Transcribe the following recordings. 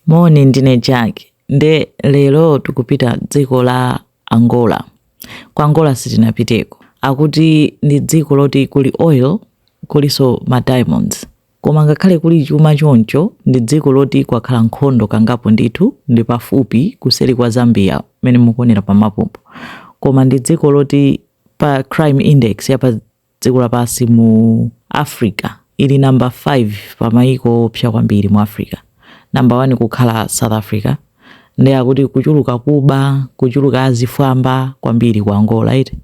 Moni ndine Jack nde lero tikupita dziko la Angola. Ku Angola sitinapiteko. Akuti ndi dziko loti kuli oil kulinso ma diamonds. Koma ngakhale kuli chuma choncho ndi dziko loti kwakhala nkhondo kangapo ndithu ndi pafupi kuseri kwa Zambia mmene mukuonera pa mapupo. Koma ndi dziko loti pa crime index ya pa Dziko lapansi mu Africa ili number 5 pa maiko oopsa kwambiri mu Africa number 1 kukhala South Africa nde akuti kuchuluka kuba kuchuluka azifwamba kwambiri ku Angola eti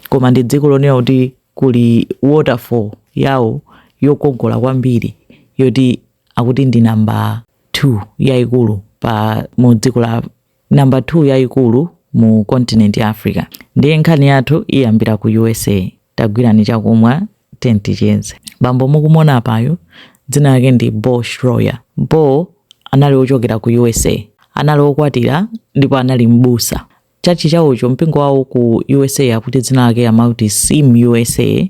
koma ndi dziko lonena kuti kuli waterfall yawo yokongola kwambiri yoti akuti ndi number 2 yaikulu pa mu dziko la namba 2 yayikulu mu continent ya Africa. Ndiye nkhani yathu iyambira ku USA. Tagwirani chakumwa tiyeni ticheze. Bambo mukumuona apayu dzina lake ndi Beau Shroyer. Beau anali ochokera ku USA. Anali okwatira ndipo anali mbusa. Church chawocho mpingo wawo ku USA akuti dzina lake amauti SIM USA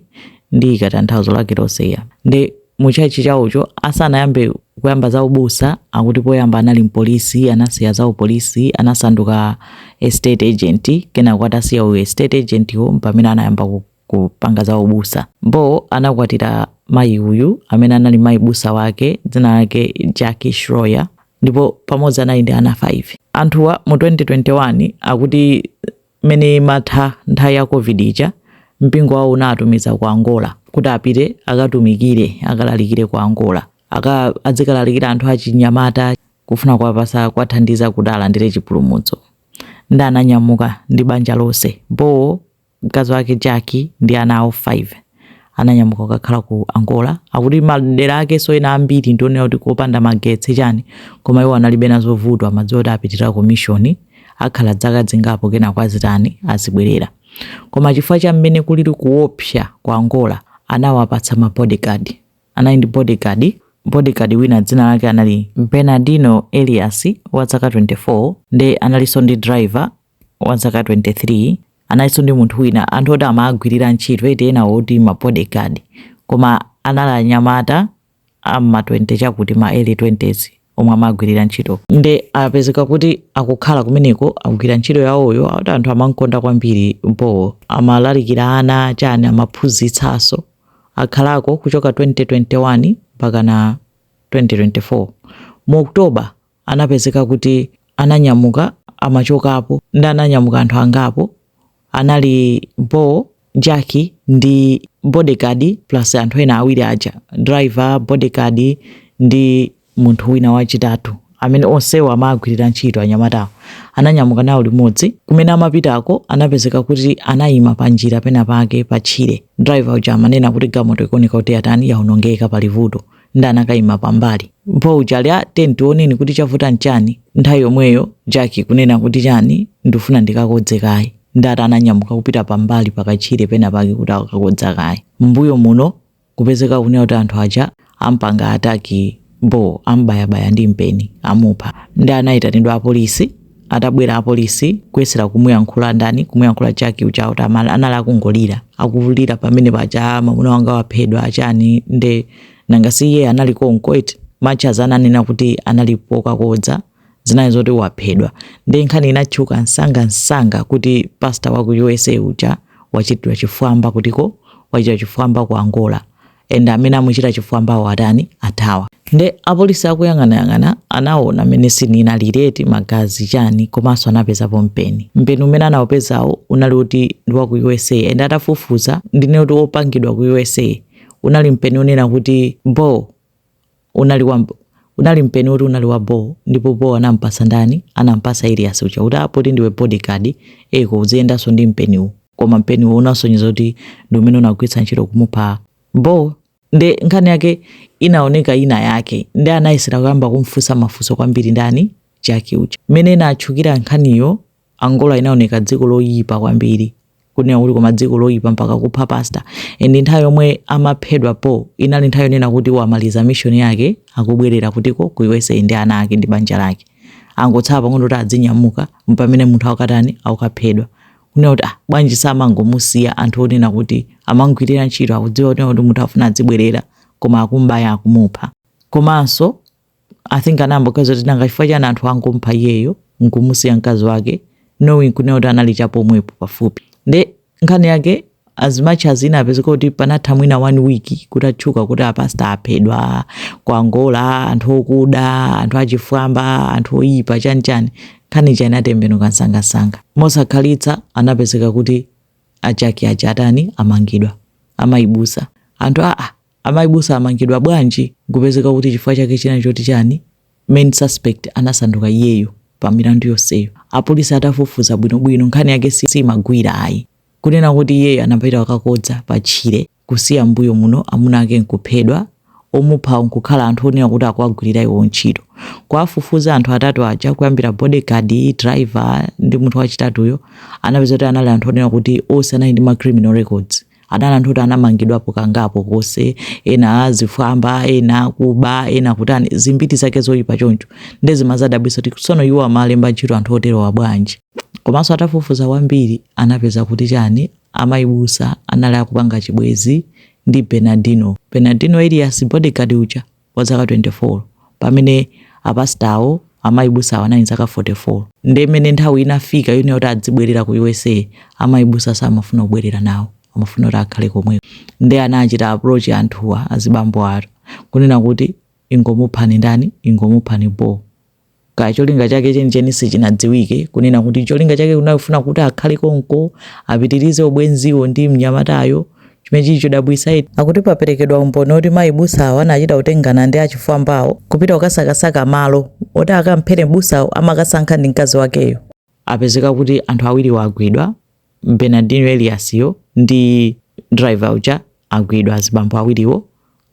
ndiika tanthauzo lake lonse eya. Nde mu church chawocho asanayambe kuyamba za ubusa akuti poyamba anali mpolisi anasiya za upolisi anasanduka estate agent kenako atasiya u estate agent wo mpamene anayamba ku- kupanga za ubusa beau anakwatira mayi uyu amene anali mayi busa wake dzina lake jackie shroyer ndipo pamodzi anali ndi ana 5 anthuwa mu 2021 akuti Mmene imatha nthawi ya Covid ija, mpingo wawo unawatumiza ku Angola kuti apite akatumikire, akalalikire ku Angola. Aka adzikalalikira anthu achinyamata kufuna kuwapatsa kuwathandiza kuti alandire chipulumutso. Nde ananyamuka ndi banja lonse, Beau, mkazi wake Jackie ndi ana awo 5. ananyamuka kukakhala ku angola akuti madera akenso ena ambiri ndi onena kuti kopanda magetsi chani koma iwo analibe nazo vuto amadziwa kuti apitira ku mishoni akhala dzaka dzingapo kenako azitani azibwerera koma chifukwa cha mmene kulili kuopsa ku angola anawapatsa ma bodyguard anali ndi bodyguard bodyguard wina dzina lake anali bernardino elias wa zaka 24 nde analinso ndi driver wa zaka 23 analinso ndi munthu wina anthu oti amagwirira ntchito eti ena oti ma bodyguard koma anali anyamata a m'ma 20 chakuti ma early 20s omwe amagwirira ntchito nde apezeka kuti akukhala kumeneko akugwira ntchito yawoyo akuti anthu amamkonda kwambiri beau amalalikira ana chani amaphunzitsanso akhalako kuchoka 2021 mpakana 2024 mu october anapezeka kuti ananyamuka amachokapo ndi ananyamuka anthu angapo anali bo jaki ndi bodigadi plus anthu ena awiri aja driver bodigadi ndi munthu wina wachitatu amene onsewo amagwirira ntchito anyamatawo ananyamuka nawo limodzi kumene amapitako anapezeka kuti anayima pa njira pena pake pa tchire driver uja amanena kuti galimoto ikuoneka kuti yatani yaonongeka pali vuto ndi anakaima pambali bo uja ali eti tioneni kuti chavuta nchani nthawi yomweyo jaki kunena kuti chani ndifuna ndikakodze kaye ndati ananyamuka kupita pambali pakatchire pena pake kuti akakodze kaye mbuyo muno kupezeka kunena kuti anthu aja ampanga ataki bo ambayabaya ndi mpeni amupha ndi anayitanidwa apolisi atabwera apolisi kuyesera kumuyankhula ndani kumuyankhula jaki uja kuti ama- anali akungolira akulira pamene paja mwamuna wanga waphedwa achani nde nanga si iye anali konko eti much as ananena kuti anali pokakodza zinali zoti waphedwa nde nkhani inatchuka msanga msanga kuti pasta wa ku usa uja wachitidwa chifwamba kutiko wachitidwa chifwamba ku angola and amene amuchita chifwambawo atani athawa nde apolisi akuyang'anayang'ana anaona mmene sini inalili eti magazi chani komanso anapezapo mpeni mpeni umene anaupezawo unali kuti ndi wa ku usa and atafufuza ndi kuti wopangidwa ku usa unali mpeni wonena kuti bo unali wa mb- unali mpeni woti unali wa bo ndipo bo anampatsa ndani anampatsa elias uja kuti "Ah, poti ndiwe bodyguard eko uziyendanso ndi mpeniwu koma mpeniwu unasonyeza kuti ndi umene unagwiritsa ntchito kumupha bo nde nkhani yake inaoneka ina yake ndi anayesera kuyamba kumfunsa mafunso kwambiri ndani jaki uja mmene inatchukira nkhaniyo Angola inaoneka dziko loyipa kwambiri kunena kuti koma dziko loyipa mpaka kupha pastor and nthawi yomwe amaphedwa bo inali nthawi yonena kuti wamaliza mission yake akubwerera kutiko ku USA ndi ana ake ndi banja lake angotsala pang'ono kuti adzinyamuka mpamene munthu akatani akukaphedwa kunena kuti ah bwanji samangomusiya anthu onena kuti amamgwirira ntchito akudziwa kunena kuti munthu afuna adzibwerera koma akumbaya akumupha komanso i think anayamboganiza kuti nanga chifukwa chani anthu angomupha iyeyo nkumusiya mkazi wake knowing kunena kuti anali chapomwepo pafupi nde nkhani yake as much as inapezeka kuti panatha mwina one week kuti atchuka kuti apasta aphedwa ku angola anthu okuda anthu achifwamba anthu oyipa chani chani nkhani ija inatembenuka msangamsanga mosakhalitsa anapezeka kuti ajaki aja atani amangidwa amayi busa anthu aa Amai busa amangidwa bwanji nkupezeka kuti chifukwa chake chinali choti chani? Main suspect anasanduka iyeyo pa milandu yonseyo. Apolisi atafufuza bwino bwino nkhani yake siimagwira ayi. Kunena kuti iyeyo anapita kukakodza pa tchire kusiya mmbuyo muno amuna ake nkuphedwa, omuphawo nkukhala anthu onena kuti akuwagwilira iwowo ntchito. Kuwafufuza anthu atatu aja kuyambira body guard, driver ndi munthu wachitatuyo anapeza kuti anali anthu onena kuti onse anali ndi ma criminal records. anali anthu oti anamangidwapo kangapo konse ena azifwamba ena akuba ena kutani zimbiti zake zoyipa choncho nde zimadzadabwitsa kuti tsono iwo amalemba ntchito anthu oterowa bwanji komanso atafufuza kwambiri anapeza kuti chani amayibusa anali akupanga chibwezi ndi bernardino bernardino elias bodyguard uja wa zaka 24 pamene a pastor awo amayi busa awo anali ndi zaka 44 nde mene nthawi inafika yonena kuti adzibwelera ku usa amayi busa samafuna kubwelera nawo amafuna kuti akhale komweko nde anachita approach anthuwa azibambo atatu kunena kuti ingomuphani ndani ingomuphani beau kaya cholinga chake chenicheni sichinadziwike kunena kuti cholinga chake kunali kufuna kuti akhale konko apitirize ubwenziwo ndi mnyamatayo chimene chili chodabwitsa eti akuti paperekedwa umboni oti mayi busawo anachita kutengana ndi achifwambawo kupita kukasakasaka malo oti akamphere mbusawo amakasankha ndi mkazi wakeyo apezeka kuti anthu awiriwo agwidwa Bernardino Elias yo ndi driver uja agwidwa azibambo awiriwo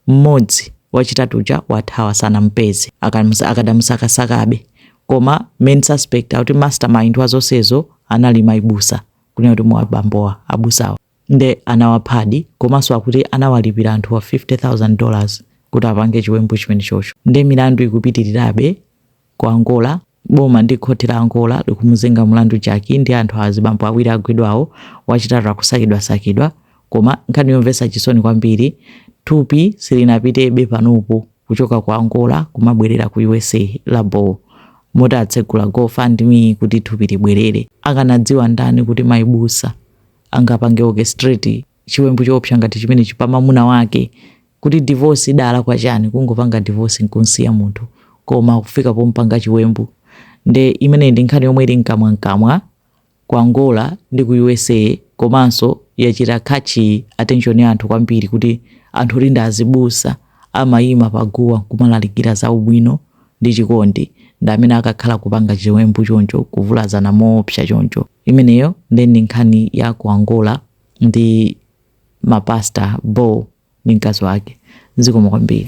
mmodzi wachitatu uja wathawa sanamupeze akamusa- akadamusakasakabe koma main suspect akuti mastermind wa zonsezo anali maibusa kunena kuti mupha bambowa abusawa nde anawaphadi komanso akuti anawalipira anthuwa 50000 dollars kuti apange chiwembu chimene chocho nde milandu ikupitirirabe ku angola Boma ndi khothi la Angola likumuzenga mulandu Jackie ndi anthu azibambo awiri agwidwawo, wachitatu akusakidwasakidwa. Koma nkhani yomvetsa chisoni kwambiri, thupi silinapitebe panopo kuchoka ku Angola kumabwerera ku usa. La Beau. Moti atsegula Go Fund Me kuti thupi libwerere. Akanadziwa ndani kuti mai busa angapange orchestrate chiwembu choopsa ngati chimenechi pa mamuna wake kuti divorce idalakwa chani kungopanga divorce nkunsiya munthu koma kufika pompanga chiwembu nde imeneyi ndi nkhani yomwe ili mkamwa mkamwa ku Angola ndi ku usa komanso yachita catch attention ya anthu kwambiri kuti anthu oti ndi azibusa amayima pa guwa nkumalalikira za ubwino ndi chikondi ndi amene akakhala kupanga chiwembu choncho kuvulazana moopsa choncho imeneyo nde ndi nkhani ya ku Angola ndi ma pastor beau ndi mkazi wake zikomo kwambiri.